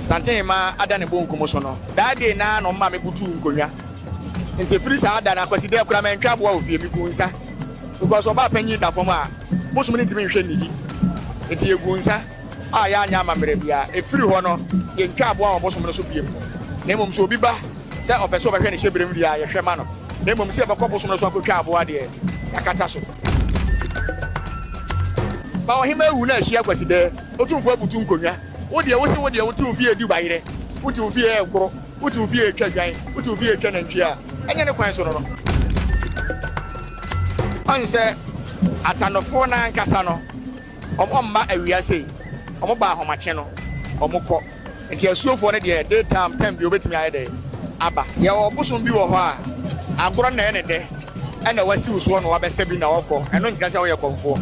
Santehema ada ne bonkum so no, daa dei no ara na ɔmaa mebutuw nkonnwa. Enti firi saa da no ara, Kwasida yi koraa mantwa aboa wɔ fie. Miguu nsa, because ɔbaa panyin da fam a, bosom no ntumi nhwɛ nnidi. Enti yeguu nsa a yɛanyɛ amammerɛ biara. Efiri hɔ no, yentwaa aboa wɔ bosom no so bio, na mmom sɛ obi ba sɛ ɔpɛ sɛ ɔbɛhwɛ ne hyɛberem deɛ a, yɛhwɛ ma no, na mmom sɛ yɛbɛkɔ bosom no so akotwa aboa deɛ, yɛakata so. Baohema awu na ahyia Kwasida. Otumfoɔ abutu nkonnwa. Wo deɛ, wose wo deɛ wote wo fie du bayerɛ, wote wo fie ɛnkoro, wote wo fie ɛtwa adwan, wote wo fie ɛtwa nantwie a, ɛnyɛ ne kwan so no no. Ɔnsɛ Atandofoɔ no ankasa no, wɔmma awia sei, wɔba ahomakye no, wɔkɔ. Nti asuofoɔ no deɛ day time time bi obetumi ayɛ dɛ aba. Yɛwɔ ɔbosom bi wɔ hɔ a agorɔ na ɛyɛ no dɛ ɛna wasi wo soɔ na wabɛsa bi na ɔkɔ ɛno nkyerɛ sɛ woyɛ kɔmfoɔ.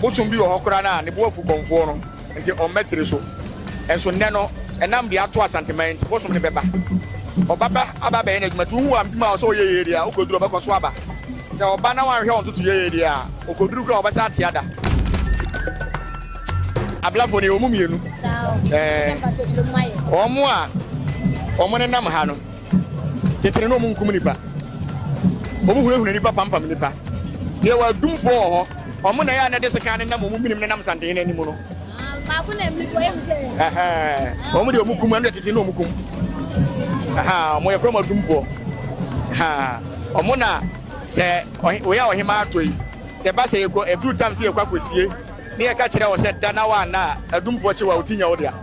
Bosom bi wɔ hɔ koraa no a ne bo afu kɔmfoɔ no nti ɔmma tiri so nso nnɛ no ɛnam deɛ ato Asanteman nti bosom no bɛba ɔbaba aba abɛyɛ n'adwuma nti wohu wampim a ɔsɛ ɔyɛ yie deɛ a wokɔduru ɔbɛkɔ so aba sɛ ɔba na wanhwɛ ɔntoto yie deɛ a ɔkɔduru koraa ɔbɛsa ate ada. Ablafo no yɛwɔ mu mmienu. Wɔn a wɔn nenam ha no, tete no na wɔn nkum nipa. Wɔn hunahuna nipa pampam nipa. Na yɛwɔ adumfoɔ wɔ hɔ. Wɔn na yɛ a na de sekan nenam wɔn minim nenam santen no anim no. Baako na mmiri bɔ yɛn sɛ. Wɔn de wɔn kum ɛnu tete na wɔn kum. Wɔn yɛfrɛ wɔn adumfoɔ. Wɔn na sɛ wɔyɛ a ɔhemaa atɔ yi sɛ ba sɛ yɛkɔ ɛduru tam sɛ yɛkɔ akɔsie. Ne yɛka kyerɛɛ wo sɛ da na woanna a, adumfoɔ kye wo a, wo ti nyɛ wo dea.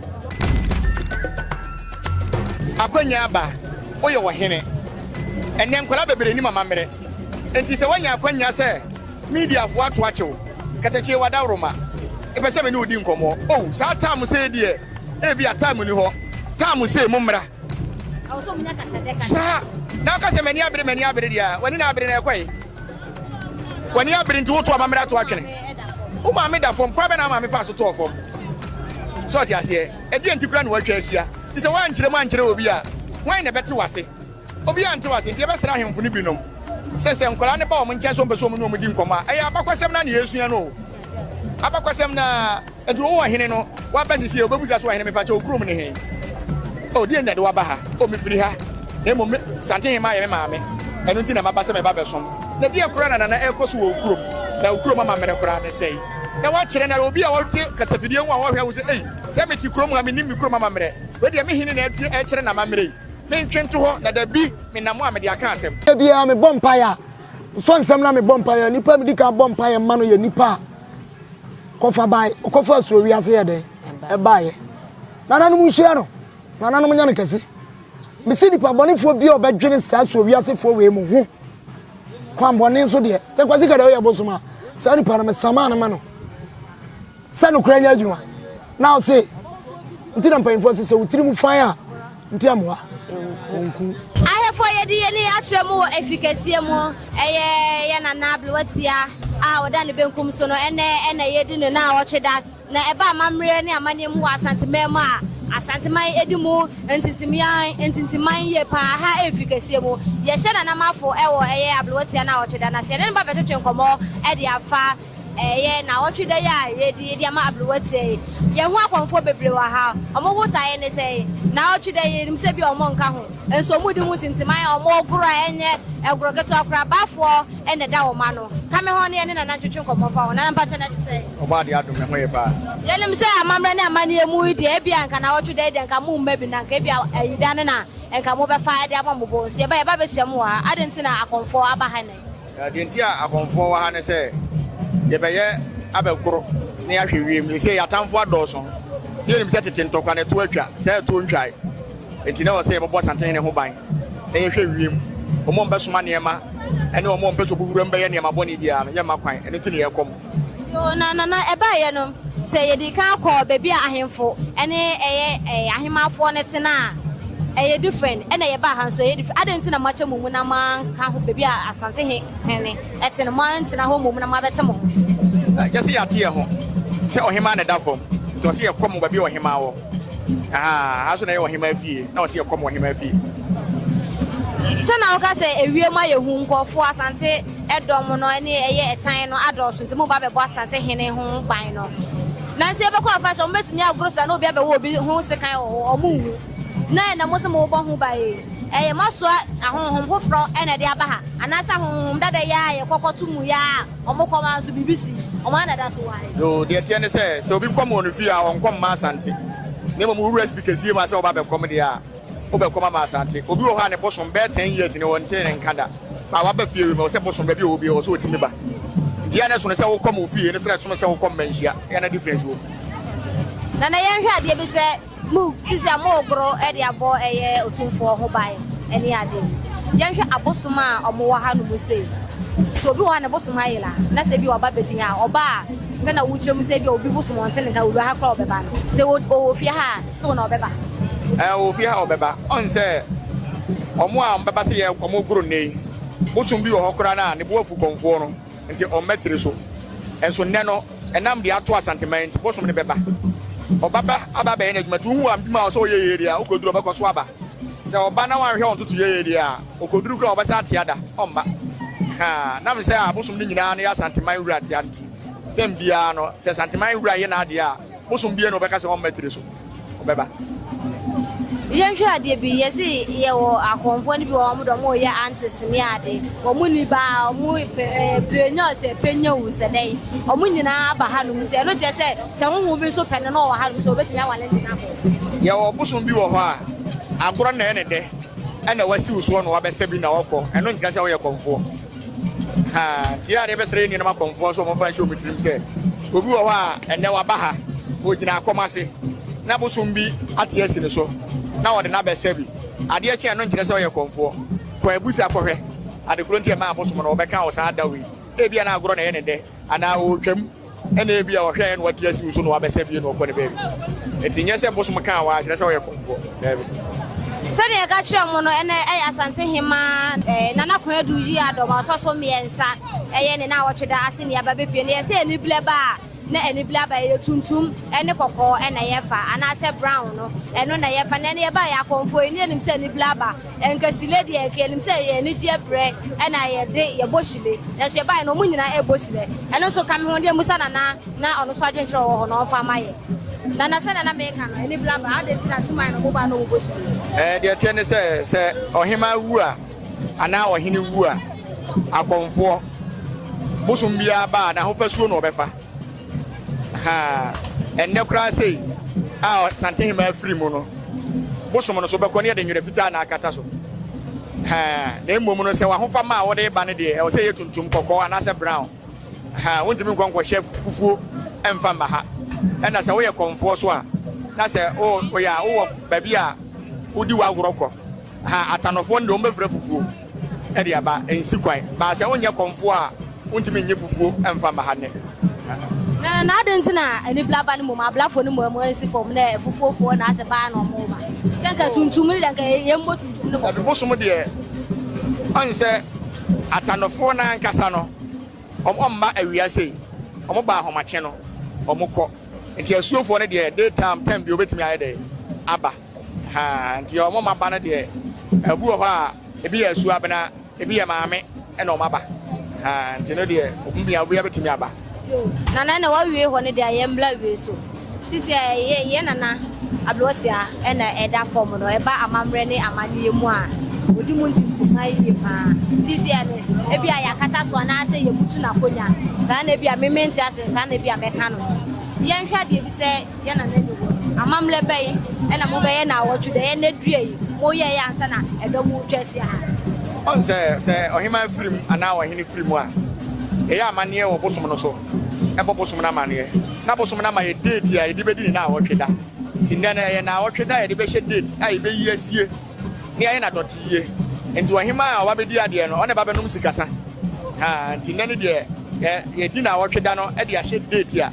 Akwannya aba, woyɛ ɔhene. Ɛnnɛ nkwadaa bebree nim amammerɛ. Enti sɛ woanya akwannya sɛ mediafoɔ ato akye wo, katakyie w'adaworoma, mepɛ sɛ me ne wo di nkɔmmɔ. Oh, saa tam sei deɛ, ebia tam nni hɔ. Tam sei, mommra. Saa, na woka sɛ m'ani abere, m'ani abere deɛ a, w'ani na abere na ɛkɔe. W'ani abere nti woto amammerɛ ato atwene. Wo maame da fam, kwan bɛn na wo maame faa so tɔɔ fam? Sɛ ɔte aseɛ, ɛdeɛn nti koraa na wɔatwa ahyia? Te sɛ woankyerɛ mu ankyerɛ obi a, hwan na ɛbɛte w'ase? Obiara nte w'ase, nti yɛbɛsrɛ ahemfo no binom sɛ, sɛ nkwadaa no ba wɔn nkyɛn sɛ wɔpɛ sɛ wɔne wɔn di nkɔmmɔ a, ɛyɛ abakɔsɛm no ara na yɛresua no o. Abakɔsɛm no ara nti wowɔ hene no waba sesie wobɛbisa so ɔhene mepakyɛ wo kurom ne he? Oh deɛn na ɛde waba ha? Oh mefiri ha na mmom me Santehemmaa yɛ me maame ɛno nti na maba sɛ meba bɛsom na deɛn koraa na nana ɛrekɔ so wɔ wo kurom na wo kurom amammerɛ koraa ne sɛe na woakyerɛ no obi a ɔte kasafidie ho a ɔhwɛ wo sɛ ei sɛ mete kurom ha menim me kurom amammerɛ wei deɛ me hene na ɛkyerɛ n'amammerɛ yi mentwe nto hɔ na dabi menam a mede aka asɛm. Da biara mebɔ mpaeɛ a, Sɔ nsɛm na mebɔ mpaeɛ. Nipa medi kan bɔ mpaeɛ ma no yɛ nipa a kɔfa bae ɔkɔfa asuro wiase yɛ dɛ ɛbaeɛ nananom nhyira no nananom nyɛ no kɛse mesi nipa bɔnefoɔ bi a ɔbɛdwene saa asuro wiasefoɔ wei mu ho kwan bɔne nso deɛ sɛ kwasi kada woyɛ bosom a saa nipa no mesama no ma no Sɛ nokorɛ nyɛ adwuma na ɔse nti na mpanyinfoɔ se sɛ wo tiri mu fann a nte amoa ɔnku. Ahefoɔ yɛdi yɛni akyerɛ mo wɔ efi kɛseɛ mu ɛyɛ yɛ nana ablewatia a ɔda ne benkum so no ɛnɛ ɛna yɛdi ne na awɔtwe da na ɛba amammerɛ ne amaneɛ mu wɔ asante man mu a asante man edi mu ntintiman ntintiman yie paa ha efi kɛseɛ mu yɛhyɛ nana mafo ɛwɔ ɛyɛ ablewatia na awɔtwe da na sɛ yɛne ne ba bɛtwetwe nkɔmɔ ɛde afa Ɛyɛ naawɔtwe da yi a yɛredi de ama aberewa tia yi. Yɛn ho akɔmfoɔ bebree wɔ ha. Wɔn botaeɛ ne sɛn? Naawɔtwe da yi, yɛnim sɛ ebia wɔnka ho, nso wɔredi ho ntintiman, wɔregoro a ɛnyɛ agorɔ ketewa koraa, abaafoɔ na ɛda wɔn ano. Ka me ho ne yɛne Nana ntwetwe nkɔmmɔ mfa ho. Nana, mpa kyɛ, na ɛte sɛn? Ɔbɔadeɛ adom, me ho ye paa. Yɛnim sɛ amammerɛ ne amanneɛ mu yi deɛ, ebia anka naawɔtwe da yi deɛ anka moremma bi, na anka ebia Ayida no na anka mobɛfa de abɔ mo bo. Nso yɛba, yɛba abɛhyia mo wɔ ha. Adɛn nti na akɔmfoɔ aba ha nnɛ? Na deɛ nti a akɔmfoɔ wɔ ha ne sɛ, yɛbɛyɛ abɛkoro na yɛahwɛ wiem. Ɛsɛ yɛn atamfoɔ adɔɔso. Ne yɛnim sɛ tete ntɔkwa na ɛtoɔ atwa, saa ɛtoɔ ntwae. Enti na ɛwɔ sɛ yɛbɛbɔ Asantehene ho ban na yɛhwɛ wiem. Wɔn a wɔbɛsoma nneɛma ne wɔn a wɔpɛ sɛ wɔbɔ wuram bɛyɛ nneɛma bɔne biara no, yɛmma kwan. Ɛno nti na yɛrekɔ mu. Yoo, na nana ɛbaeɛ no, sɛ yɛdii kan kɔɔ baabi a ahemfo ne ɛyɛ ahemmafoɔ no te no a, ɛyɛ different, ɛna yɛbaa ha nso ɛyɛ different. Adɛn nti na moakyɛ mo mu na moanka ho baabi a Asante he hene te no, moantena hɔ mmom na moabɛte mo ho? Gye sɛ yɛate yɛ ho sɛ ɔhemmaa na ɛda fam, nti ɔse yɛkɔ mo baabi a ɔhemmaa wɔ. Ahaa, ha nso na ɛyɛ ɔhemmaa fie, na ɔse yɛkɔ mo ɔhemmaa fie. Sɛ na woka sɛ ewiem ayɛ hu, nkurɔfoɔ, Asante. Ɛdɔm no ne ɛyɛ ɛtan no adɔɔso nti moba bɛbɔ asante hene ho ban no nanso yɛbɛkɔ afahyɛ wɔn bɛtumi agoro saa na obi abɛwɔ obi ho sekan wɔ hɔ wɔn nwu na ɛna mo se mo bɔ ho ban ei ɛyɛ mo asoa ahonhom foforɔ ɛna ɛde aba ha anaasɛ ahonhom dada yi a yɛkɔ kɔto mu yi a wɔn kɔ ma nso biribi si wɔn ana da so wɔ ha yi. Yoo deɛ ɛteɛ ne sɛ sɛ obi kɔm wɔ ne fie a ɔnkɔm mma asante na mmom owura fi kɛsie mu a sɛ ɔba bɛkɔm deɛ a Wobɛkɔ Mama Asante. Obi wɔ hɔ a ne bosom bɛyɛ ten years ni ɔntee ne nka da. A waba fie wɔ mu a ɔsɛ bosom baabi a ɔwɔ biara ɔsɛ ɔtumi ba. Deɛ na ɛsono sɛ wokɔ ma ofie no sɛ na ɛsono sɛ wokɔ mma nhyia. Ɛyɛ na difference wɔ mu. Nana yɛnhwɛ adeɛ bi sɛ mo sisi a mogoro de abɔ ɛyɛ otumfoɔ ho ban ɛne ade yɛnhwɛ abosom a ɔmo wɔ ha no mu sei sɛ obi wɔ ha ne bosom ayera na sɛ bi ɔba bɛdi ha ɔba a sɛ na wokyerɛ mu sɛ bi a obi bosom ɔnte ne nka owura ha kora ɔbɛba no sɛ ɔwɔ fie ha a So na ɔbɛba? Ɛɛ, ofi ha a ɔbɛba. Ɔn sɛ, wɔn a wɔbɛba sɛ yɛn, wɔregoro nnɛ yi, bosom bi wɔ hɔ koraa no a, ne bo afu kɔmfoɔ no, nti wɔmmɛtiri so. Nso nnɛ no, ɛnam deɛ ato Asanteman yi nti, bosom no bɛba. Ɔbɛba aba abɛyɛ n'adwuma, nti wohu adwuma a ɔsɛ ɔyɛ yie deɛ a, wokɔduru a, ɔbɛkɔ so aba. Sɛ ɔba na wanhwɛ wɔn ntotoeɛ yie deɛ a, ɔkɔduru koraa a, wɔbɛsan ate ada. Ɔmma. Haa, nam sɛ abosom no nyinaa no yɛ Asanteman wura dea nti, tɛm biara no, sɛ Asanteman wura yɛ n'adeɛ a, Bosom biara na ɔbɛka sɛ ɔmma tiri so, ɔbɛba. Yɛnhwɛ adeɛ bi, yɛse yɛwɔ akɔmfoɔ no bi wɔ wɔn dɔ wɔn yɛ antes ne ade, wɔn ni baa, wɔn pɛnya sɛ pɛnya wu sɛ dɛn, wɔn nyinaa aba hanom sɛ ɛno kyerɛ sɛ sɛ honhom bi nso pɛ no na ɔwɔ hanom sɛ ɔbɛtumi awale ne na kɔ. Yɛwɔ bosom bi wɔ hɔ a agorɔ na ɛyɛ ne dɛ ɛna wasiw soɔ na wabɛsa bi na ɔkɔ, ɛno nkyerɛ sɛ ɔyɛ kɔmfoɔ. Haa, tie adeɛ bɛsrɛ yɛn nuanom akɔmfoɔ nso wɔmfa nhyɛ wɔn tirim sɛ obi wɔ hɔ a ɛnnɛ waba ha, ɔgyina akɔm ase na bosom bi ate asi ne so na ɔde no abɛsɛ bi. Adeɛ kye a, ɛno nkyerɛ sɛ ɔyɛ kɔmfoɔ. Kɔ abusa kɔhwɛ adekoro nti ɛmaa abosom no wɔbɛka wɔ saa da wei. Ebia na agorɔ na ɛyɛ no dɛ anaa ɔretwam. Ɛna ebia ɔhwɛ ayɛ na wate asiw so na wabɛsɛ fie na ɔkɔ ne baabi. Enti nyɛ sɛ bosom kaa wɔ a kyerɛ sɛ ɔyɛ kɔmfoɔ. Daabi. Sɛnea yɛka kyerɛɛ mo no, ɛnnɛ ɛyɛ Asante Hemmaa eh, Nana Kwadu Yiadom a ɔtɔ so mmiɛnsa. Ɛyɛ ne naawɔtwe da ase ne yɛaba bepue no. Yɛsɛ aniblɛ ba a, na aniblɛ aba ɛyɛ tuntum ne kɔkɔɔ na yɛfa, anaasɛ brown no, ɛno na yɛfa. Na ɛnnɛ yɛbaeɛ akɔmfoɔ, yɛnni anim sɛ aniblɛ aba. Nka hyile deɛ nka yɛnim sɛ ɛyɛ anigyeɛ berɛ ɛna yɛde yɛbɔ hyile nanso yɛbaeɛ no wɔn nyinaa ɛrebɔ hyilɛ ɛno nso ka me ho deɛ musa Nana na ɔno nso adwenkyerɛ ɔwɔ hɔ na ɔmfa ma yɛ Nana sɛdeɛ na meka no ɛne blaba adɛn nti na suman no moba no wɔbɔ hyile. Ɛɛ deɛ ɛteɛ ne sɛ sɛ ɔhemaa wu a anaa ɔhene wu a akɔmfoɔ bosom biara ba a n'ahofasuo na ɔbɛfa. Ha a, ɛnnɛ koraa sei a Santehemaa firi mu no, bosom no so bɛkɔ no yɛde nwerɛ fitaa na akata so. Ha, na mmom no sɛ w'ahofama a wode reba no deɛ ɛwɔ sɛ ɛyɛ tuntum, kɔkɔɔ anaasɛ brown. Ha, wontumi nkɔ nkɔhyɛ fufuo mfa mma ha. Ɛna sɛ woyɛ kɔmfoɔ so a, na sɛ woyɛ a wowɔ baabi a wodi w'agorɔ kɔ. Ha atanɔfoɔ no deɛ wɔbɛfra fufuo de aba, ɛnsi kwan, but sɛ wonyɛ kɔmfoɔ a wontumi nnye fufuo mfa mma ha nnɛ. Na na ade nti na ani bla ba no mmom ablafo no mmom nsi fam na fufuo foɔ na asɛ baa na ɔmo ba sɛ nka tuntum no deɛ nka yɛn mmɔ tuntum no kɔfɔ. Ɛbosom deɛ ɔn sɛ atanɔfoɔ no ankasa no ɔmo mma awia sei ɔmo ba ahomakye no ɔmo kɔ nti asuofoɔ no deɛ day time time bi obetumi ayɛ dɛ aba. Ahaa nti wɔn mma ba no deɛ ɛbi wɔ hɔ a ebi yɛ asu abena ebi yɛ maame ɛna wɔn aba ahaa nti no deɛ obi bia obi abɛtumi aba. Nana na wawie hɔ no deɛ yɛn mbla wie so sisi a yɛ yɛ nana ablotia ɛna ɛda fam no ɛba amammerɛ ne amaneɛ mu a odi mu ntintima yie paa sisi a no ebi a yɛakata so anaasɛ yɛbutu n'akonya saa na ebi a memente ase saa na ebi a mɛka no yɛnhwɛ adeɛ bi sɛ. yɛ na n'ani wɔ no. Amammerɛ bɛn na mobɛyɛ naawɔtwe deɛ ɛyɛ nnɛ dua yi? Moyɛeɛ ansa na ɛdɔm retwa ahyia ha. Ɔn sɛ, sɛ ɔheman firi mu anaa ɔhene firi mu a, yɛyɛ amanneɛ wɔ bosom no so, bɔ bosom no amanneɛ, na bosom no ama yɛn date a yɛde bɛdi ne naawɔtwe da. Nti nnɛ no, ɛyɛ naawɔtwe da a yɛde bɛhyɛ date a yɛbɛyi asie, na yɛayɛ no adɔteyie. Nti ɔheman a ɔba bɛdi adeɛ no, ɔne ɛba bɛnom sikasa. Haa, nti nnɛ no deɛ, yɛ, yɛdi naawɔtwe da no de ahyɛ date a.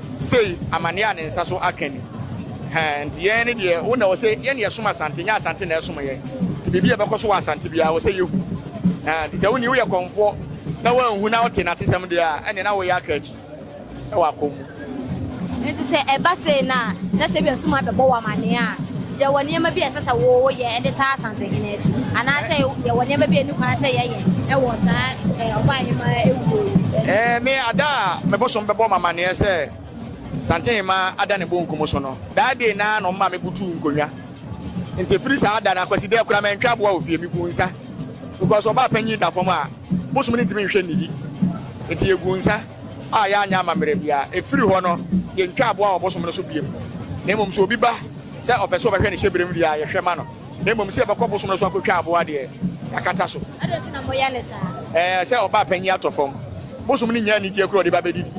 Sei amaneɛ a ne nsa so aka ni. Hɛn nti yɛn ne deɛ wo na ɛwɔ sɛ yɛn na yɛsom Asante nyɛ Asante na ɛsom yɛn. Nti biribi a ɛbɛkɔ so wɔ Asante biara ɛwɔ sɛ yɛhu. Hɛn nti sɛ wo ni woyɛ kɔmfoɔ na woanhu na wote n'atesɛm deɛ a ɛneɛ na woreyɛ aka akyi wɔ akɔm mu. Nti sɛ ɛba sei na na sɛ ebia sum abɛbɔ wo amaneɛ a, yɛwɔ nneɛma bi a ɛsɛ sɛ woyɛ de taa Asantehene akyi anaasɛ yɛwɔ nneɛma bi a ɛnni kwan sɛ yɛyɛ. wɔ saa Ɔbaahemaa awuo yi akyi. Ɛɛ me ada a me bosom bɛbɔ me amanneɛ sɛ Santehemaa ada ne bonkum so no, daa dei no ara na ɔmaa me butuu nkonnwa. Nti ɛfiri saa da no, Akwasidɛɛ koraa mantwa aboa wɔ fie, meguu nsa. Because Ɔbaapanyin da fam a, bosom no ntumi nhwɛ nnidi. Nti yɛguu nsa a yɛanyɛ amammerɛ biara. Ɛfiri hɔ no, yɛntwa aboa wɔ bosom no so bio. Na mmom sɛ obi ba sɛ ɔpɛ sɛ ɔbɛhwɛ ne hyɛberem wie a, yɛhwɛ ma no. na mmom sɛ yɛbɛkɔ bosom no so akɔtwa aboa deɛ yɛakata so. Adɛn nti na moyɛ ne saa? Ɛɛ, sɛ ɔbaa panyin atɔ fam. Bosom no nnya anigyeɛ koro a ɔde ba bɛdidi.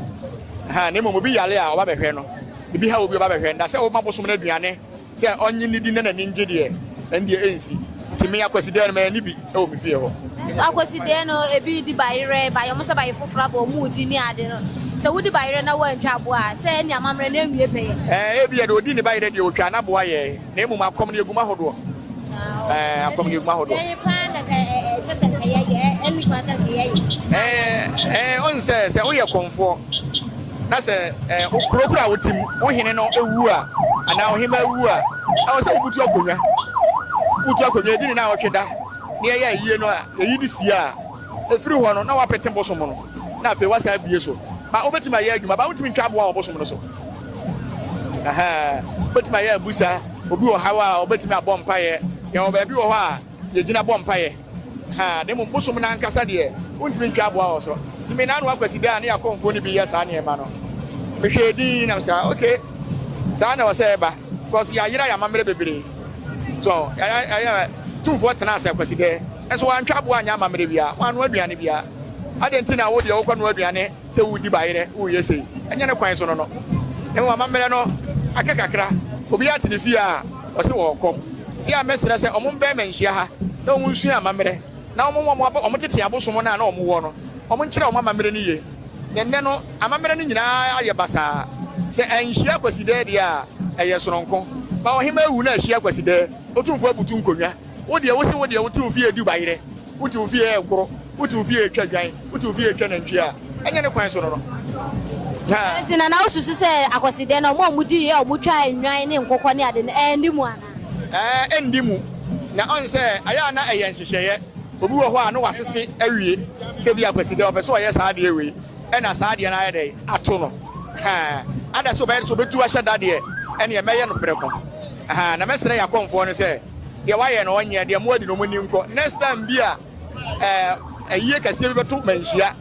Ha, na mmom obi yare a ɔba bɛhwɛ no, biribi haw obi a ɔba bɛhwɛ no. Na sɛ woma bosom no aduane sɛ ɔnnye nnidi na n'ani ngye deɛ, ɛndeɛ ɛnsi. Nti me, Akwasidaɛ no, manni bi wɔ me fie hɔ. Nanso Akwasidaɛ no, ebi di bayerɛ, ba yɔm sɛ bayeforoforo aba a wɔredi ne ade no. Sɛ wodi bayerɛ na woantwa aboa a, sɛ ɛne amammerɛ no ɛnwie pɛyɛ. Ɛɛ, ebia deɛ ɔdii ne bayerɛ deɛ ɔtwaa n'aboa yɛɛ. Na mmom akɔm no yɛgum ahodoɔ. Ɛɛ akɔm no yɛgum ahodoɔ. Ɛɛ paa na ka ɛsɛ sɛ nka yɛyɛ ɛnu paa sɛ nka yɛyɛ. Ɛɛ ɛɛ ɔn sɛ sɛ woyɛ kɔmfoɔ na sɛ ɛɛ okuro kura wo tim wo hene no ewu a anaa ɔhema ewu a ɛwɔ sɛ wobutu akonnwa butu akonnwa edi ne na ɔtwe da ne ɛyɛ ayie no a eyi de sie a efiri hɔ no na wapete bosom no na afei wasan abie so ba wobɛtumi ayɛ adwuma ba wotumi ntwa aboa wɔ bosom no so. Wobɛtumi ayɛ abusa, obi wɔ haw a ɔbɛtumi abɔ mpaeɛ. Yɛwɔ baabi wɔ hɔ a yɛgyina bɔ mpaeɛ. Na mmom bosom no ankasa deɛ, wontumi ntwa aboa wɔ so. Nti me naanoa Kwasida a ne Yakonfoɔ no bi yɛ saa nneɛma no, mehwɛɛ din na mesɛ ok, saa na ɛwɔ sɛ ɛba because yɛayera yɛn amammerɛ bebree. So yɛayɛ tumfoɔ tena ase Kwasida nso wantwa aboa anyɛ amammerɛ biara, wannoa aduane biara. Adɛn nti na wo deɛ wokɔnoa aduane? Sɛ wodi bayerɛ, woyɛ sei, ɛnyɛ ne kwan so no no. Na mmom amammerɛ no aka kakra. Obiara te ne fie a, ɔse ɔɔkɔ. Nti a mɛsrɛ sɛ ɔmo mbɛn mɛ nhyia ha na ɔmo nsua amammerɛ, na ɔmo mmoa ɔmo a ɔmo tete abosom no a na ɔmo wɔ no, ɔmo nkyerɛ ɔmo amammerɛ no yie. Na nnɛ no, amammerɛ no nyinaa ayɛ basaa. Sɛ anhyia Kwasidɛɛ deɛ a, ɛyɛ sononko. Ba ɔhemaa awu na ahyia Kwasidɛɛ, Otumfoɔ abutu nkonnwa. Wo deɛ wose wo deɛ wote wo fie du bayerɛ, wote wo fie ɛkoro, wote wo fie ɛtwa dwan, wote wo fie ɛtwa nantwie a, ɛnyɛ ne kwan so no no. Dɛn nti na na wosusu sɛ Akwasidɛ no, wɔn a wɔdii a wɔtwaa nnwan ne nkokɔ ne ade no, ɛnni mu anaa? Ɛɛ, ɛnni mu. Na ɔn sɛ ɛyɛ a na ɛyɛ nhyehyɛeɛ. Obi wɔ hɔ a na wasese awie sɛ ebia Akwasidɛ ɔpɛ sɛ ɔyɛ saa adeɛ wei ɛna saa adeɛ no ayɛ dɛn ato no. Haa. Ada sɛ ɔbɛyɛ de sɛ ɔbɛtu ahyɛ da deɛ, ɛneɛ mɛyɛ no prɛko. Haa. Na mɛsrɛ Yakonfoɔ no sɛ. Deɛ wayɛ no ɔnyɛ, deɛ moadi no moni nkɔ. Next time bi a ayie kɛseɛ bi bɛto manhyia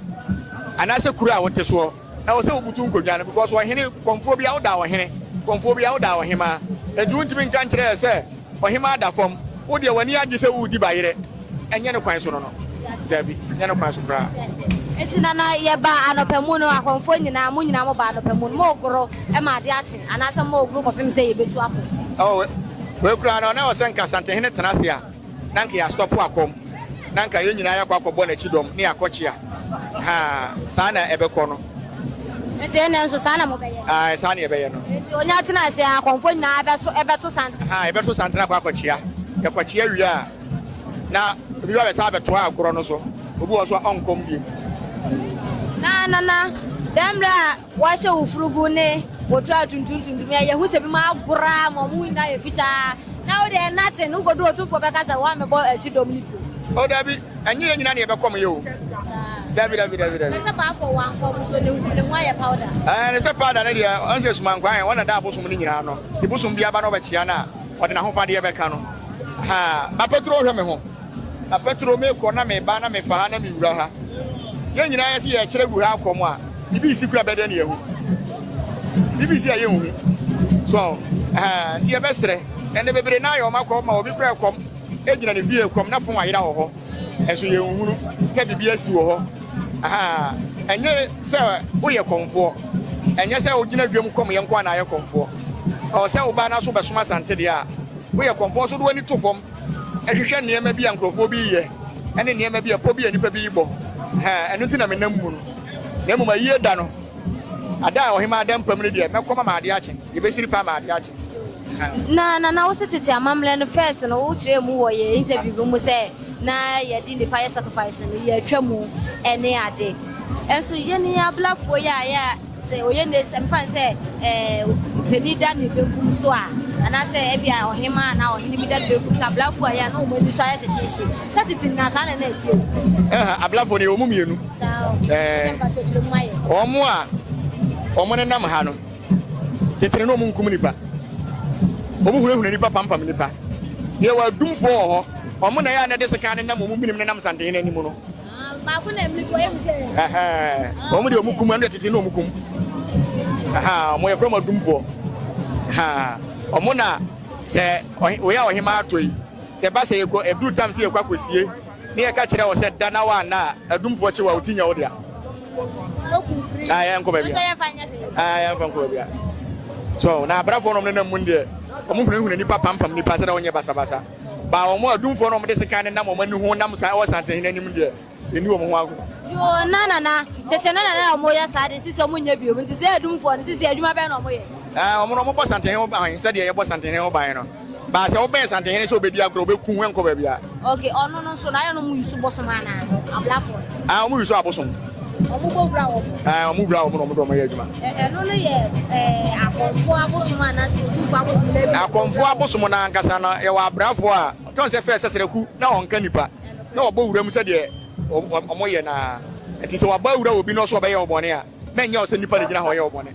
anaasɛ kuro a wote soɔ, ɛwɔ sɛ wobutu nkonnwa no because ɔhene kɔmfoɔ biara woda ɔhene, kɔmfoɔ biara woda ɔhemaa. Enti wontumi nka nkyerɛ yɛ sɛ ɔhemaa da fam, wodeɛ w'ani agye sɛ woredi bayerɛ. Ɛnyɛ ne kwan so no no. Dabi, ɛnyɛ ne kwan so koraa. Enti na na yɛba anɔpa mu no, akɔmfoɔ nyinaa, mo nyinaa moba anɔpa mu no, moregoro ma ade akye, anaasɛ moregoro kɔpem sɛ yɛbɛtu akɔ? Ɔ, wei, wei koraa no, na ɛwɔ sɛ anka Asantehene tena ase a, na anka yɛastɔpo akɔm, na anka yɛn nyinaa yɛakɔ akɔbɔ n'akyi dɔm, na yɛakɔkyea. Haa, saa na ɛbɛkɔ no. Enti ɛnnɛ nso saa na mobɛyɛ? Ae, saa na yɛbɛyɛ no. Enti ɔnya tena ase a, akɔmfoɔ nyinaa bɛso, bɛto santene? Haa, yɛbɛto santene akɔ akɔkyea. Yɛkɔkyea wie a. Na obi ba bɛsan bɛtoa agorɔ no so, obi wɔ hɔ nso a ɔnkɔm bio. Na nana, dɛn mmerɛ a wɔahyɛ wo furugu ne wo to atuntum tuntum yɛ, yɛhu sɛ binom agorɔ ara ma wɔn ho nyinaa yɛ fitaa, na wo deɛ nothing, wokɔduru ɔtumfoɔ bɛka sɛ woammɛbɔ akyi dɔm no bio. O dabi, ɛnyɛ yɛn nyinaa na yɛbɛkɔm yɛ o, dabi dabi dabi dabi. Na sɛ paafoɔ wankɔm nso, ne ho ne ho ayɛ powder. Ɛɛ, ne sɛ powder no deɛ, ɔnsɛ sumankwaa yɛn, wɔn na ɛda abosom no nyinaa ano, nti bosom biara ba na wɔbɛkyea no a, Ɔde n'ahofadeɛ bɛka no ha. Ma Petro nhwɛ me ho. Na Petro, mekɔ na meba na mefa ha na mewura ha. Yɛn nyinaa yɛse yɛrekyerɛ gu ha kɔm a, biribi resi koraa bɛdɛ ne yɛahu. Biribi resi a yɛnhu. So, ha, nti yɛbɛsrɛ. Ɛnde bebree no ara yɛ wɔn akɔm ma obi koraa kɔm gyina ne fie kɔm na fon ayera wɔ hɔ. Nso yɛnhunu na biribi asi wɔ hɔ. Ahaa, ɛnyɛ sɛ woyɛ kɔmfoɔ. Ɛnyɛ sɛ wogyina dwam kɔmyɛ nko ara na ayɛ kɔmfoɔ. Ɔwɔ sɛ wo ba no nso bɛsom Asante deɛ a. Woyɛ kɔmfoɔ nso de w'ani to fam hwehwɛ nneɛma bi a nkurɔfoɔ bi reyɛ ne nneɛma bi a, pɔ bi a nnipa bi rebɔ. Ahaa, ɛno nti na menam mu no. Na mmom ayie da no, ada a ɔhemmaa da mpamu no deɛ, mɛkɔma ama adeɛ akye. Yɛbɛsiri paa ama adeɛ akye. Na Nana wo se tete amammerɛ no first no wo kyerɛ mu wɔ yɛ interview bi mu sɛ na yɛ de nipa yɛ sacrifice no yɛ twa mu ɛne ade ɛnso yɛ ne ablafoɔ yɛ a yɛ a sɛ ɔyɛ ne sɛ mfa ne sɛ ɛɛ panin da ne benkum so a anaasɛ ɛbi a ɔhema anaa ɔhene bi da ne benkum so ablafoɔ a yɛ a na wɔn ani so ayɛ hyehyeehye sɛ tete nyinaa saa na na ɛteɛ mu. Ɛha ablafoɔ no yɛ wɔn mu mmienu. Saa o. Ɛɛ. Sɛ mfa kyerɛkyerɛ mu ayɛ. Wɔn a wɔn nenam ha no. Tete no na wɔnkum nnipa, wɔhunahuna nnipa pampam nnipa. Deɛ wɔ adumfoɔ wɔ hɔ, wɔn na ɛyɛ a na ɛde sekan nenam wɔn menem nenam nsantehene anim no. Baako na mmiri kɔ ehu sɛ. Wɔn deɛ wɔn kum, ɛno deɛ tete na wɔn kum. Wɔn yɛ fɛn mu adumfoɔ. Wɔn na sɛ wɔyɛ a ɔhemaa atɔ yi, sɛ ɛba sɛ yɛkɔ ɛduru tam sɛ yɛkɔ akɔsie Ne yɛka kyerɛɛ wo sɛ, Da na woanna a, adumfoɔ kye wo a, wo ti nyɛ wo dea. Na yɛnkɔ baabiara. So, na abrafoɔ nom nenam mu deɛ, wɔn hunahuna nipa pampam nipa sɛdeɛ wɔnyɛ basabasa. Baa wɔn adumfoɔ nom de sekan nenam wɔn ani ho nam saa wɔ santehene anim deɛ, yɛnni wɔn ho agorɔ. Yoo, na na na, tete no na na wɔyɛ saa de, sisi wɔn nyɛ bio. Nti sɛ adumfoɔ no, sisi adwuma bɛn na wɔyɛ? Wɔn no, wɔbɔ santehene ho ban sɛdeɛ yɛbɔ santehene ho ban no. But sɛ wobɛn santehene sɛ obedi agorɔ ɔbɛku wo ɛnkɔ baabi a. Okay ɔno no nso no ayɛ no ɔmo use bosom anaa ablafo no. Ah ɔmo use abosom. Ɔmo bɔ wura wɔn. Ah ɔmo wura wɔn na ɔmo de ɔmo yɛ adwuma. Ɛno no yɛ eh, akɔmfoɔ abosom anaa sɛ otumfoɔ abosom na ebi. Akɔmfoɔ abosom no ankasa no yɛwɔ abrafoɔ a tɔn sɛ fɛ sɛsrɛku na ɔnka nipa na ɔbɔ wura mu sɛdeɛ ɔmo yɛ naa nti sɛ wabɔ awura wɔ bi no so ɔbɛyɛ wo bɔne a. Mɛ nyɛ wo sɛ nipa na gyina hɔ yɛ wo bɔne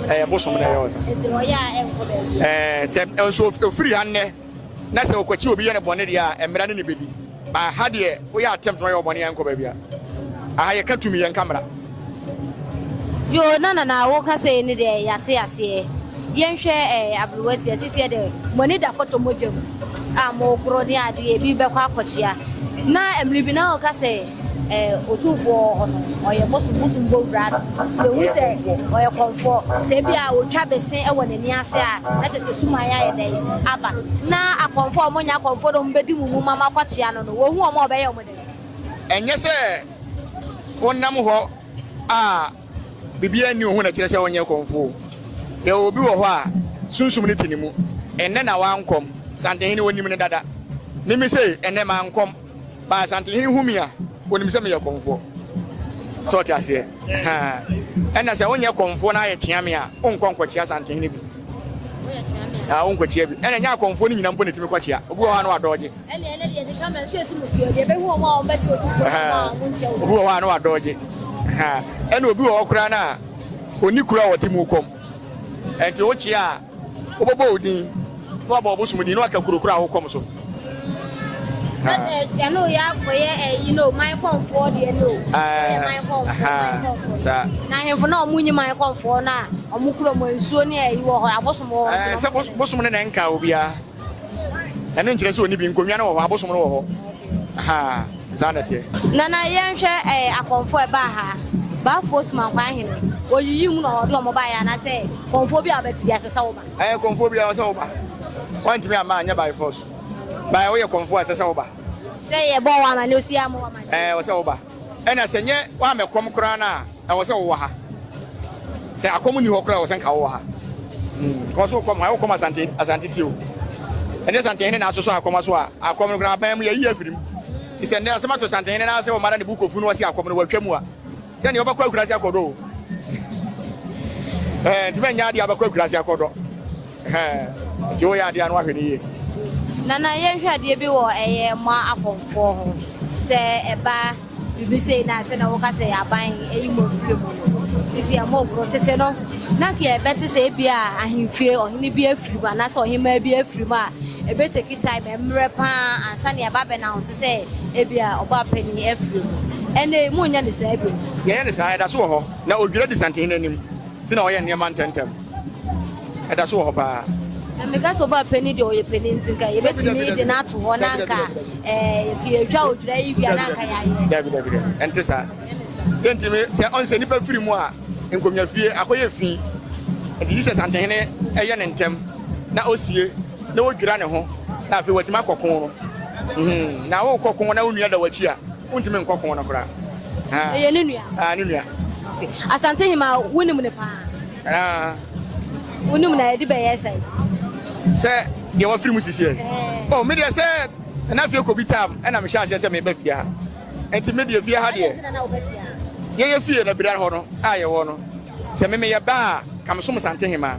ɛyɛ bosom na ɛyɛ wo sɛ nso ofiri ha nnɛ na sɛ ɔkwakyi obi yɛ ne bɔne deɛ a mmara ne ne bɛdi ba ha deɛ woyɛ attempt na ɔyɛ ɔbɔne yɛnkɔ baabi a aha yɛka tumi yɛnka mmara yo na nana woka sɛ ne deɛ yɛate aseɛ yɛnhwɛ eh, aberewa ti asisiɛ dɛ moani da kɔtɔ mogya mu a mogoro ne adeɛ bi bɛkɔ akɔkyea na mmere bi na ɔka sɛ Otumfoɔ wɔ hɔ no, ɔyɛ bosom bosom bɔ wura no. Sɛ ohu sɛ ɔyɛ kɔmfoɔ, sɛ ebia otwa bese wɔ n'ani ase a, na kyerɛ sɛ suman ayɛ dɛn? Aba. Ná akɔmfoɔ a wɔnyɛ akɔmfoɔ na wɔbɛdi mo mu ma moakɔkyea no no, wɔhu wɔn a, wɔbɛyɛ wɔn dɛn? Ɛnyɛ sɛ wonam hɔ a biribiara nni wo ho na ɛkyerɛ sɛ wonyɛ kɔmfoɔ. Yɛwɔ obi wɔ hɔ a, sunsum no te ne mu. Ɛnnɛ na wankɔm. Santehene, wonim no dada. Mimi se, Ɛnnɛ, mankɔm. Ba Asantehene hu me a, ɔnim sɛ meyɛ kɔmfoɔ. Sɛ ɔte aseɛ? Ɛna sɛ wonyɛ kɔmfoɔ na ayɛ kyea me a, wonkɔ nkɔkyea Asantehene bi. Ah, wonkɔkyea bi. Ɛna nyɛ akɔmfoɔ no nyina mpo na ɛtumi kɔkyea. Obi wɔ hɔ a na wadɔɔgye. Obi wɔ hɔ a na wadɔɔgye. Ɛna obi wɔ hɔ koraa no a ɔni kuro a ɔte mu kɔm. Ɛnti wokyea a Wobɛbɔ wo din, na woabɔ ɔbosom din, na woaka kuro korɔ a wokɔm so. Ɛɛ, saa. Ɛɛ, sɛ bosom no na ɛnkaa obiara. Ɛno nkyerɛ sɛ ɔni bi. Nkonnwa no wɔ hɔ, abosom no wɔ hɔ. Ahaa, saa na ɛteɛ. Nana yɛnhwɛ ɛɛ akɔmfoɔ ɛbaa ha. Baafoɔ Sumankwan hene, ɔyiyi mu na ɔde wɔn baeɛ anaasɛ kɔmfoɔ biara a ɔbɛte biara ɛsɛ sɛ woba? Ɛɛ kɔmfoɔ biara ɔsɛ woba. Wɔntumi amma anyɛ by force. By woyɛ kɔmfoɔ a ɛsɛ sɛ woba. Sɛ yɛbɔɔ wo amanneɛ, ɔsi yɛ ammɔ wo amanneɛ? Ɛɛ ɔsɛ woba. Ɛna sɛ nyɛ woamɛ kɔm koraa no a ɛwɔ sɛ wowɔ ha sɛ akɔm ni hɔ koraa wɔ sɛ nka wowɔ ha kɔ so kɔm ha wokɔm asante asante tio ɛnyɛ santehene na asosɔ akɔm aso a akɔm no koraa aban mu yɛyi afirim ti sɛ nnɛ asɛm ato santehene na asɛ wɔmara ne bu kofu no wɔsi akɔm no wɔatwa mu a sɛ nea wɔbɛkɔ akurase akɔdɔ o ɛɛ nti mɛnyɛ adeɛ abɛkɔ akurase akɔdɔ Hɛn, nti wo yɛ adeɛ a no ahwɛ no yie. Nana yɛn hwɛ adeɛ bi wɔ ɛyɛ mo akɔmfoɔ ho sɛ ɛba biribi sei na afei na wo ka sɛ aban ɛyi mo afiri mu no sisi ɛmo ɔboro tete no na nka ɛbɛ te sɛ ebi a ahenfie ɔhene bi afiri mu anaasɛ ɔhemaa bi afiri mu a ɛbɛ take time ɛmmerɛ paa ansa na ɛba bɛ na ho so sɛ ebi a ɔbɔ apɛni afiri mu ɛnɛ yi mo nyɛ ne saa bi. Yɛyɛ ne saa ɛda so wɔ hɔ na odwira di santene no anim ti na ɔyɛ nneɛma ntɛntɛm. ɛda so wɔ hɔ paa. na meka sɛ ɔba panin deɛ ɔyɛ panin nti nka yɛbɛtumi de no ato hɔ na nka yɛtwa odwira yi wia na nka yɛayɛ dabi dabi dabi ɛnte saa yɛntumi sɛ ɔn sɛ nnipa firi mu a nkonnwa fie akɔyɛ fi nti jesus antehene ɛyɛ ne ntɛm na ɔsie na wɔdwira ne ho na afei watumi akɔko no na wokɔko na wo nua da wakyi a Wontumi nkɔ ko no koraa. Ah. Ɛyɛ ne nua. Ah, ne nua. Asante Hima, wonim ne paa. Ah. Wonim na ɛde bɛyɛ sɛ. Sɛ deɛ wafiri mu sisi ɛ. Eh. Oh, me deɛ sɛ ɛna fie kɔ bi tam ɛna mehyɛ aseɛ sɛ meba fie ha. Ɛnti me deɛ fie ha deɛ. Yɛyɛ fie na bira hɔ no a yɛwɔ no. Sɛ me meyɛ baa ka mesom Asante Hima.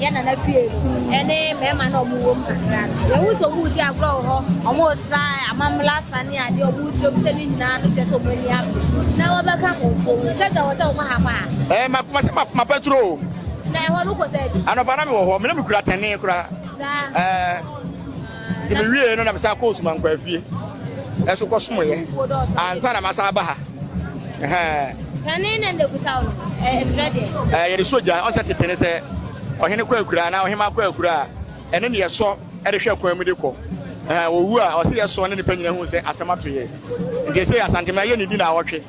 yɛ nana fie ɛne mmarima na ɔmo wɔ mu kakra no yɛhu sɛ ɔmo di agorɔ wɔ hɔ ɔmo sa amamla sa ne adeɛ ɔmo kyerɛ mu sɛ ne nyinaa no kyɛ sɛ ɔmo ani abere na wɔbɛka nkurɔfoɔ mu sɛ gya wɔ sɛ ɔmo ha ma ha. ɛɛ ma ma sɛ ma ma pɛturo. na ɛhɔ no kɔ sɛ bi. anɔpa na mi wɔ hɔ mi na mi kura tɛnee kura. saa ɛɛ. Nti me wiee no na me san kɔɔ Osuman Nkwaa fie ɛso kɔ somoeɛ ansa na masan aba ha. Ɛhɛɛ. Kane na nda kuta wo no ɛkyerɛ deɛ. Ɛɛ yɛde so gya ɔsɛ tete ne sɛ ɔhene kɔ akura anaa ɔhema kɔ akura a ɛne ne yɛsɔ ɛde hwɛ kwan mu de kɔ. Ɛhɛɛ wɔwu a ɔsɛ yɛsɔ ne nipa nyina hu sɛ asɛm ato yɛ. Nti ɛsɛ Asantema yɛ ne di na awɔtwe.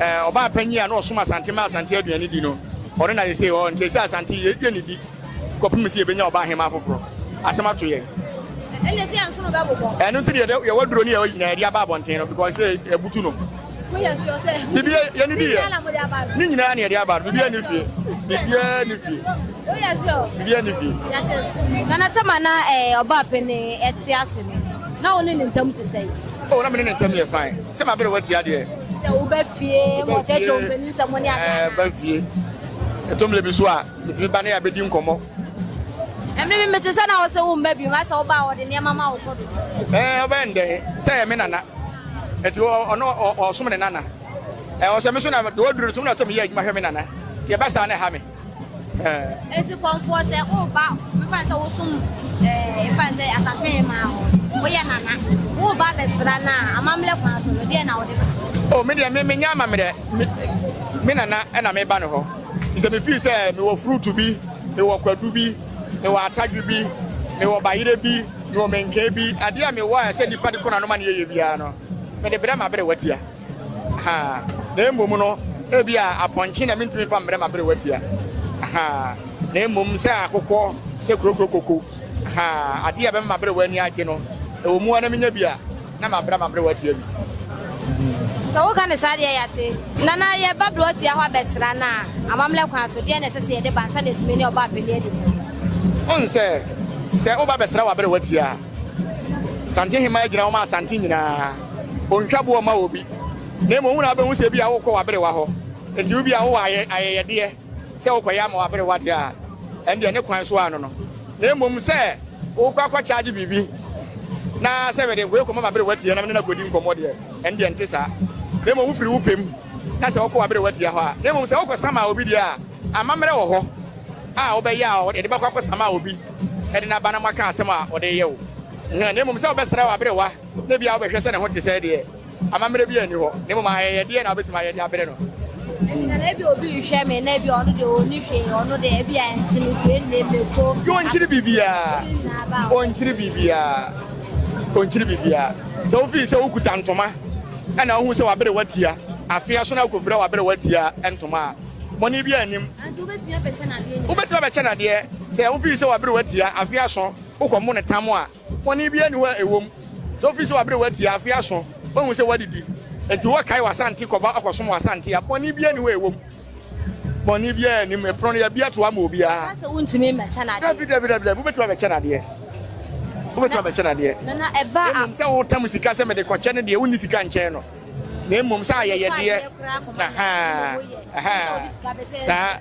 Ɔbaa panyin a na ɔsom Asante ma Asante aduanedi no, ɔno na seesei ɔwɔ nkyɛn sɛ Asante. Yɛredua ne di kɔpem sɛ yɛbɛnya ɔbaa hemmaa foforɔ. Asɛm ato yɛn. Ɛnneɛ sɛ yɛn so no bɛbobɔ. Ɛno nti deɛ yɛwɔ aduro ne yɛwɔ yi nyinaa yɛde aba abɔnten no because sɛ ɛbutu no. Mo yɛ sure sɛ. Biribiara yɛne di yɛ. Ne nyinaa na yɛde aba no. Biribiara ne fie. Biribiara ne fie. Mo yɛ sure. Biribiara ne fie. Yɛte. Nana Tama na ɛɛ ɔbaa panin ɛte ase no, na wo ne ne ntam te sɛn? Oh, na me ne ne ntam yɛ fine. Sɛ ma bere watia deɛ. Sɛ wo ba fie, ma ɔkyerɛkyerɛ wo mpanin sɛ mo ne aka. Ɛɛ, ba fie. Ɛtɔ mmiri bi so a, metumi ba ne abɛdi nkɔmmɔ. Ɛmiri bi mete sɛ na wo sɛ wo mma bi, asɛ wo ba a ɔde nneɛma ma wo kɔ do. Ɛɛ, ɔbɛn dɛ, sɛ ɛyɛ me nana. Ɛti ɔno ɔsom ne nana. Ɛɛ, ɔsɛ me so na deɛ ɔduru no so, na sɛ meyɛ adwuma hwɛ me nana. Ti ɛba saa na ɛha me. Eti kɔmfoɔ sɛ woba mfa sɛ wosom ɛɛ mfa sɛ asase maa hɔ woyɛ nana woba bɛsra no a amammerɛ kwan so no deɛ na wode bɛyɛ. O me deɛ me menyɛ amammerɛ me nana ɛna meba ne hɔ sɛ me fii sɛ mewɔ fruit bi mewɔ kwadu bi mewɔ atadwe bi mewɔ bayerɛ bi mewɔ menkee bi adeɛ a mewɔ a ɛsɛ nipa de kɔnanom a ne yɛyɛ biara no mede brɛ ma berɛ watia. Ahaa, na mmom no, ebia apɔnkye na mintumi mfa mbrɛ m'aberewa tia. Ahaa, na mmom sɛ akokɔ, sɛ kurokuro koko. Ahaa, adeɛ a ɛbɛma m'aberewa ani agye no, ɛwɔ mu ara na menya bi a, na mabra m'aberewa tia bi. Sɛ woka no saa deɛ, yɛate. Nana, yɛba berewa tia hɔ abɛsra no a, amammerɛ kwan so, deɛn na ɛsɛ sɛ yɛde ba ansa na yɛatumi ne ɔbaapanin adi dɛm? Woahu sɛ, sɛ woba bɛsra w'aberewa tia a, Santehema gyina hɔ ma Asante nyinaa. Ontwa boɔ mma obi, na mmom wo na wobɛhu sɛ ebia worekɔ w'aberewa hɔ. Enti wo bi a wowɔ ayɛyɛdeɛ sɛ worekɔyɛ ama w'aberewa deɛ a, ɛndeɛ ne kwan so ara no no, na mmom sɛ worekɔ akɔkyagye biribi na sɛ mede wei rekɔma m'aberewa tia na me ne no akɔdi nkɔmmɔ deɛ, ɛndeɛ ɛnte saa. Na mmom wofiri wo pɛ mu ka sɛ wokɔ w'aberewa tia hɔ a. Na mmom sɛ wokɔsa maa obi deɛ a, amammerɛ wɔ hɔ a wobɛyɛ a yɛde bɛkɔ akɔsa maa obi de no aba na moaka asɛm a ɔde reyɛ wo ho, na mmom sɛ wobɛsra w'aberewa. Da biara wobɛhwɛ sɛ ne ho te sɛ deɛ amammerɛ biara nni hɔ, na mmom ayɛyɛdeɛ na wobɛtumi ayɛ de abrɛ no. Ɛnti na ebia obi rehwɛ me na ebia ɔno deɛ ɔnni hwee, ɔno deɛ ebia nkye no due nne, mako, Ɔnkyere biribiara, ɔnkyere biribiara, ɔnkyere biribiara. Sɛ wofii sɛ wokuta ntoma na wohu sɛ w'aberewa tia, afe aso na wokɔfira w'aberewa tia ntoma a, bɔne biara nnim. Ɛnti wobɛtumi abɛkyɛ no adeɛ nyinaa? Wobɛtumi abɛkyɛ no adeɛ. Sɛ wofii sɛ w'aberewa tia, afe aso, wokɔmo no tam a, Bɔne biara nni hɔ a ɛwom sɛ wofi sɛ wɔabrɛ wo atia afe ason, woahu sɛ woadidi, enti woakae w'asante kɔba akɔsom w'asante a. Bɔne biara nni hɔ a ɛwom. Bɔne biara nnim. Ɛpono no, yɛabue ato hɔ ama obiara. Ɛka sɛ wontumi mmɛkyɛ no adeɛ. Dabi, dabi, dabi, dabi, wobɛtumi abɛkyɛ no adeɛ. Wobɛtumi abɛkyɛ no adeɛ. Na, na ɛba a. Mmom sɛ wotam sika sɛ mede kɔkyɛ no deɛ, wonni sika nkyɛn no. Na mmom sɛ ayɛyɛdeɛ. Ɛtɔ ayɛyɛ koraa kɔma no, na mmom woyɛ. Ɛhɛɛ, ɛhɛɛ. Wode sika bɛhyɛ. Saa,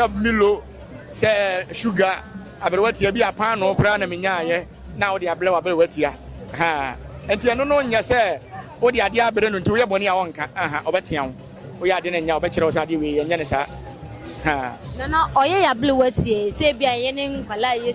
sɛ Milo. Sɛ sugar aberewa tia bi a paanoo koraa na menyaayɛ na wode abrɛ w'aberewa tia ha nti ɛno no nyɛ sɛ wode adeɛ abrɛ no nti woyɛ bɔne a ɔnka aha ɔbɛtea wo woyɛ adeɛ no nyɛ a ɔbɛkyerɛ wo sɛ adeɛ wei yɛnyɛ ne saa ha. Nana ɔyɛ yɛ aberewa tie sɛ ebi a yɛne nkwadaa yɛ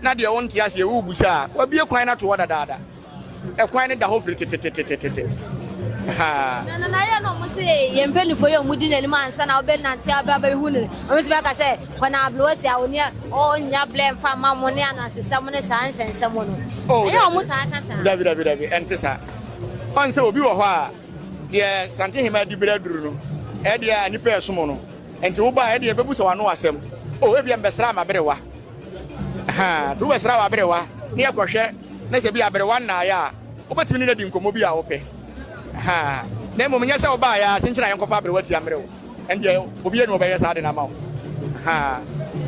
na deɛ wonte aseɛ worebisa a, wabue kwan no ato hɔ dadaada. Ɛkwan no da hɔ firi tetetetetete. Na na na yɛ na wɔn se yɛn mpanyinfoɔ yɛ wɔn di n'anim ansa na wɔbɛ nante abira bɛ hu no wɔn ti bɛ ka sɛ kɔ na ablowa ti a wɔn yɛ wɔn nya blɛ nfa ma wɔn ne anasesɛm ne saa nsɛnsɛm no oh, ɛyɛ wɔn taa ka saa. dabi dabi dabi ɛnte saa wɔn sɛ obi wɔ hɔ a deɛ santehima di bere aduru no ɛdeɛ a nipa ɛsom no nti wo ba ɛdeɛ bɛbu sɛ wɔn ano asɛm o oh, ebi mbɛsra ama bere wa. Ahaa, Kuro bɛsra w'aberewa na yɛkɔhwɛ na sɛ bi a aberewa nnaeɛ a, wobɛtumi ne no adi nkɔmmɔ bi a wopɛ. Ahaa, Na mmom nyɛ sɛ wobaeɛ ara kyenkyen a yɛnkɔfa aberewa ti ammrɛ wo. Ɛndeɛ obi ani ɔbɛyɛ saa ade no ama wo. Ahaa.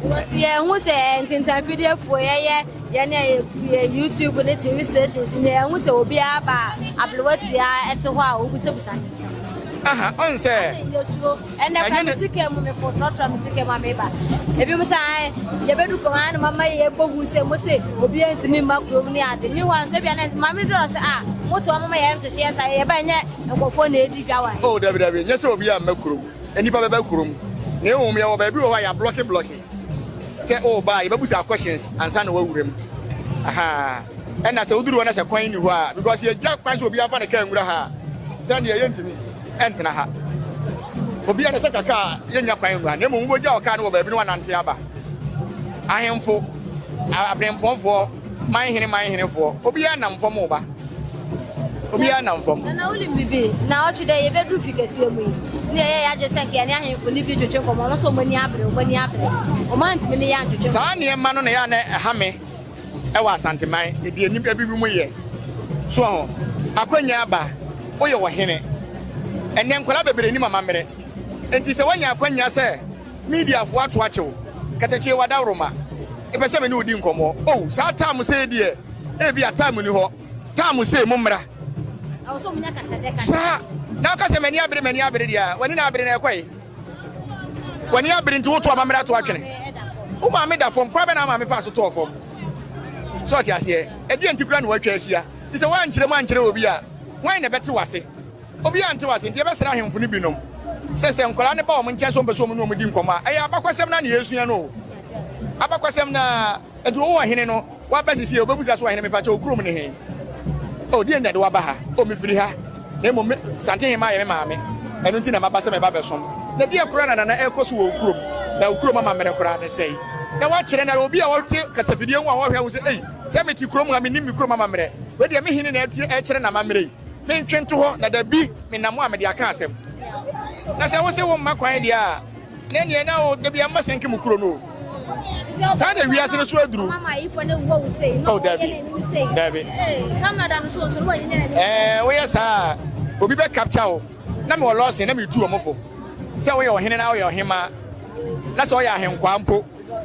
Wɔsi yɛhu sɛ ntintanfidiefoɔ yɛyɛ yɛn a yɛyɛ YouTube ne TV stations ne yɛhu sɛ obiara ba a aberewa ti a ɛte hɔ a wobusabusa ne nsɛm. Ahaa, ɔn sɛ. Adɛn yɛsuro? Ɛnɛ kora me te kaa mu mekɔ trɔtrɔ me te kaa mu a meba. Ebi mo sɛ ae yɛbɛdu kɔm ae na mama yɛbɔ hu sɛ mo se obi ntumi mma kurom ne ade. Mi hɔ nso bia ne maame dɔrɔ sɛ a ah, mo to ɔmo ma yɛn hyehyeɛ sa yɛba ɛnyɛ nkɔfoɔ na edi dwa wae. Oh dabi dabi nyɛ sɛ obi a mma kurom nnipa bɛba kurom na ɛwɔ mu yɛwɔ baabi wɔ hɔ a yɛ ablɔke blɔke sɛ o ba yɛbɛbu saa questions ansa na wawura mu ahaa ɛna sɛ woduru hɔ na sɛ kwan ni hɔ a because yɛgya kwan sɛ obi afa ne kaa nwura ha sɛ neɛ yɛntumi ɛntena ha. Obiara sɛ ka kaa yɛnnya kwan nwura na mmom wobɛgyaw kaa no wɔ baabi na woanante aba. Ahemfo, aberempɔnfoɔ, manhene manhenefoɔ, obiara nam fam reba. Obiara nam fam. Nana wonim biribi? Na ɔtwe dɛ yɛbɛduru fi kɛseɛ mu yi ne yɛyɛ yɛadwe sɛ nka yɛne ahemfo ne bi twetwe nkɔmmɔ ɔno sɛ ɔmani abere ɔmani abere ɔmantumi ne yɛ antwetwe nkɔmmɔ. Saa nneɛma no na ɛyɛ a na ɛha me. ɛwɔ Asanteman deɛ nnipa bi binom yɛ soɔ ho akwannya aba woyɛ ɔhene ɛnnɛ nkwadaa bebree nim amammerɛ nti sɛ woanya akwannya sɛ mediafoɔ ato akye wo katakyie wadaworoma ɛpɛ sɛ me ne wodi nkɔmmɔ o oh, saa tam sei deɛ ebi a tam ni hɔ tam sei mo mmra saa na woka sɛ m'ani abere m'ani abere deɛ w'ani na abere na ɛkɔe W'ani abere nti woto amammerɛ ato atwene. Wo maame da fam, kwan bɛn na wo maame faa so tɔɔ fam? So ɔte aseɛ? Ɛdeɛn nti koraa na wɔatwa ahyia? Te sɛ woankyerɛ mu ankyerɛ obi a, hwan na ɛbɛte wo ase? Obiara nte wo ase, enti yɛbɛsrɛ ahemfo no binom sɛ, sɛ nkwadaa no ba wɔn nkyɛn sɛ wɔmpɛ sɛ wɔne wɔn di nkɔmmɔ a, ɛyɛ abakwasɛm no ara na yɛresua no o. Abakwasɛm no ara. Nti wowɔ hene no waba sesie wobɛbusa so ɔhene mepakyɛ wo kurom ne he? O deɛ nti na de waba ha? O mefiri ha na mmom me Santehemmaa yɛ me maame ɛno nti na maba sɛ meba bɛsom. Na deɛ koraa na nana ɛkɔ so wɔ wo kurom na wo kurom amammerɛ koraa ne sɛe na woakyerɛ no ara obi a ɔte kasafidie ho a ɔhwɛ wo sɛ ei sɛ mete kurom ha mennim me kurom amammerɛ wei deɛ me hene na ɛrekyerɛ n'amammerɛ yi mentwe nto hɔ na dabi menam hɔ a mede aka asɛm na sɛ wo se wo mma kwan deɛ a na ɛneɛ na wo dabi ɛmma sɛnke mo kuro no o. saa na wiase no so aduru oh dabi dabi ɛɛ woyɛ saa obi bɛ capture wo na mewɔ lɔɔsen na metu wɔn fo sɛ woyɛ ɔhene na woyɛ ɔhema na sɛ ɔyɛ ahenkwaa mpo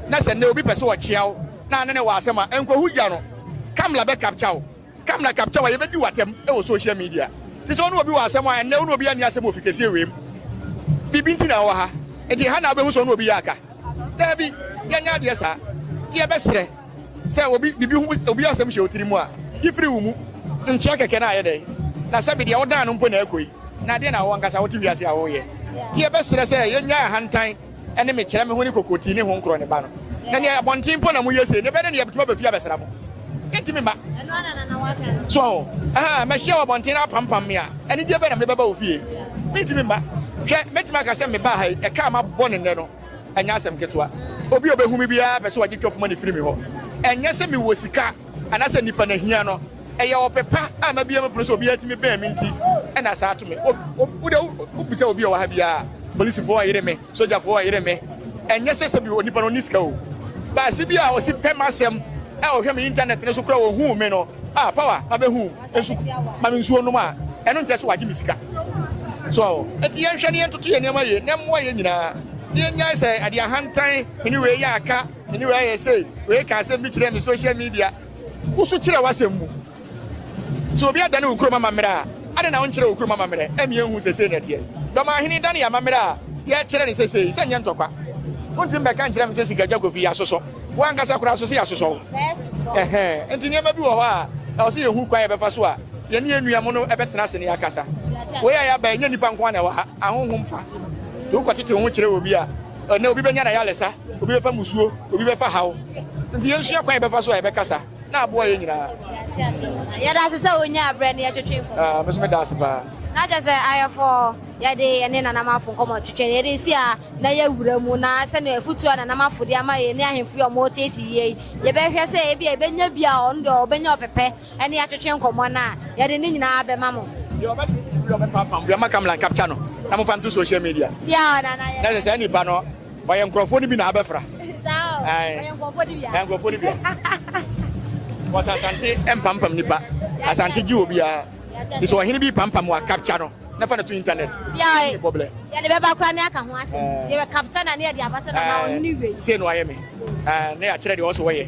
na sɛ nnɛ obi pɛ sɛ ɔkyea wo na ne ne wɔ asɛm a nkɔhu gya no kamla bɛ capture wo Kamla Kaptawa yɛbɛdi wo atɛm wɔ social media te sɛ wo ne obi wɔ asɛm a ɛnnɛ wo ne obiara nni asɛm wɔ fikɛseɛ wei mu biribi nti na wowɔ ha nti ɛha na wobɛhu sɛ wo ne obi yɛ aka daabi yɛnyɛ adeɛ saa nti yɛbɛserɛ sɛ obi biribi ho obi asɛm hyɛ wo tiri mu a yi firi wo mu nkyɛ kɛkɛ na ayɛ dɛn na sɛbi deɛ wodan no mpo na ɛkɔ yi na adeɛ na wo ankasa wote wiase a woyɛ nti yɛbɛserɛ sɛ yɛnya ahantan ne me kyerɛ me ho ne kokotii ne honkorɔ ne ba no. Na nea abɔnten mpo na moyɛ sei, ne bɛ ne nea bɛtumi aba fie abɛsra mo. Yɛntumi mma. So aho? Ahaa, mahyia wo abɔnten na apampam me a, anigyeɛ bɛn na mede bɛba wo fie? Mentumi mma. Hwɛ, mɛtumi aka sɛ mebaa ha yi, ɛka a mabɔ no nnɛ no, ɛnyɛ asɛm ketewa. Obi a ɔbɛhu me biara pɛ sɛ ɔgye twɔpoma no firi me hɔ. Ɛnyɛ sɛ mewɔ sika anaasɛ nnipa na hia no. Ɛyɛ ɔpɛ pa a mabue me pono sɛ obiara tumi bɛn me nti na saa ato me. Wo deɛ wobisa obi a ɔwɔ ha biara a, polisifo ɔyere me, sogyafo ɔyere me. Ɛnyɛ sɛ sɛbi onipa no ɔnni sika o. Baasi bi a ɔsi pɛ m'asɛm a ɔhwɛ me intanɛt no so koraa ohuu me no, ah Power, mabɛhu wo, nso ma me nsuo nnom a, ɛno nkyerɛ sɛ wagye me sika. So aho? Enti yɛnhwɛ na yɛntoto yɛn nneɛma yie na ɛmmoa yɛn nyinaa na yɛnnyae sɛ ɛde ahantan, me ne wei yɛ aka, me ne wei ayɛ sei, wei kaa asɛm bi kyerɛɛ me social media, Wo so kyerɛ w'asɛm mu. Sɛ obi adane wo kurom amammerɛ a, adɛn na wonkyerɛ wo kurom amammerɛ? Ɛmmeɛ nhu seesei na ɛteɛ. Dɔm Ahene dane yɛn amammerɛ a yɛrekyerɛ no seesei sɛ ɛnyɛ ntɔkwa. Wonte mmɛka nkyerɛ me sɛ Sikagya Kofi, yɛasosɔ wo ankasa koraa so sɛ yɛasosɔ wo. Ɛhɛɛ, enti nneɛma bi wɔ hɔ a ɛwɔ sɛ yɛhu kwan a yɛbɛfa so a yɛne yɛn nua mono bɛtena ase na yɛakasa. Wei a yɛaba yi, ɛnyɛ nnipa nko ara na ɛwɔ ha, ahonhom fa. Sɛ wokɔtete wo ho kyerɛ obi a, Ɛnnɛ obi bɛnya n'ayaresa, obi bɛfa mmusuo, obi bɛfa haw. Nti yɛnsua kwan a yɛbɛfa so a yɛbɛkasa na aboa yɛn nyinaa. Mate ase paa. Yɛda ase sɛ wonyaa berɛ ne yɛtwetwe nkɔmmɔ. Ah, me nso meda ase paa. Na kyerɛ sɛ ayɛfɔɔ yɛde yɛne Nana Marfo nkɔmmɔ twetwe no, yɛde si a na yɛawura mu na sɛdeɛ afutuo a Nana Marfo de ama yɛn ne ahemfo yi a wɔreteetee yɛn yi, yɛbɛhwɛ sɛ ebia yɛbɛnya bi a ɔno deɛ ɔbɛnya ɔpɛpɛ ɛne yɛatwetwe nkɔmmɔ no a, yɛde ne nyinaa bɛma mo. Deɛ ɔbɛtee TV a ɔbɛpaapam bi a, mma camera nkapkya no na momfa nto social media. Bia ɔ na na yɛ. Na sɛ saa nipa no ɔyɛ nkurɔfoɔ no bi na abɛfra. Saa ɔ, Ae. ɔyɛ nkurɔfoɔ no bia. Ɛyɛ nkurɔfoɔ no bia. Wɔsɛ Asante mpampam nipa. Asante gye obiara. Nti sɛ ɔhene bi repampam wo a, kapkya no na fa no to internet. Bia ɔ, Bɔblɛ. yɛde bɛba koraa na yɛaka ho asɛm. Yɛbɛkapkya no a na yɛde aba sɛ na na ɔhene wei. Sei na wayɛ me. Ae, na yɛakyerɛ deɛ ɔwɔ sɛ ɔyɛ.